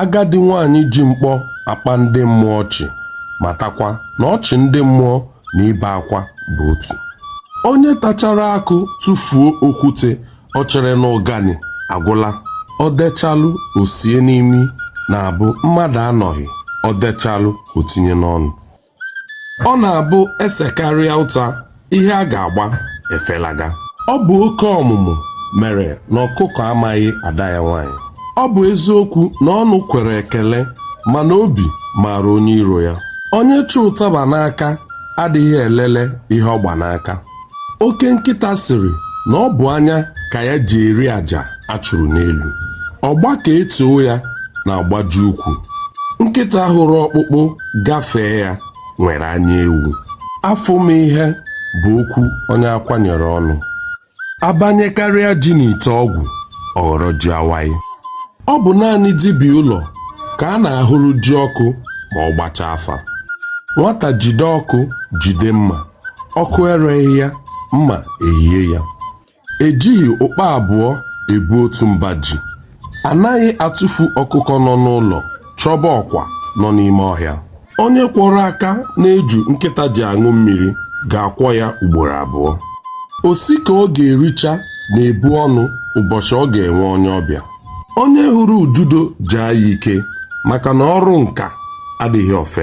Agadi nwaanyị ji mkpọ akpa ndị mmụọ ọchị matakwa na ọchị ndị mmụọ na ibe akwa bụ otu. Onye tachara akụ tụfuo okwute o chere na ụganị agwụla. O dechalụ o sie n'imi na-abụ mmadụ anọghị, o dechalụ o tinye n'ọnụ. ọ na-abụ esekarịa ụta ihe a ga-agba efelaga ọ bụ oke ọmụmụ mere na ọkụkọ amaghị ada ya nwaanyị ọ bụ eziokwu na ọnụ kwere ekele mana obi maara onye iro ya onye chụ ụtaba n'aka adịghị elele ihe ọ gba n'aka oke nkịta sịrị na ọ bụ anya ka ya ji eri aja a chụrụ n'elu ọgba ka etoo ya na-agbaji ukwu nkịta hụrụ ọkpụkpụ gafee ya nwere anya ewu afọ m ihe bụ okwu onye akwanyere ọnụ abanyekarịa ji n'ite ọgwụ ọ ghọrọ ji awaị ọ bụ naanị dibịa ụlọ ka a na-ahụrụ ji ọkụ ma ọ gbachaa afa nwata jide ọkụ jide mma ọkụ ereghị ya mma ehie ya ejighị ụkpa abụọ ebu otu mba ji anaghị atụfu ọkụkọ nọ n'ụlọ chọba ọkwa nọ n'ime ọhịa onye kwọrọ aka n'eju nkịta ji aṅụ mmiri ga-akwọ ya ugboro abụọ osi ka ọ ga-ericha na-ebu ọnụ ụbọchị ọ ga-enwe onye ọbịa onye hụrụ ududo jaa ya ike maka na ọrụ nka adịghị ọfe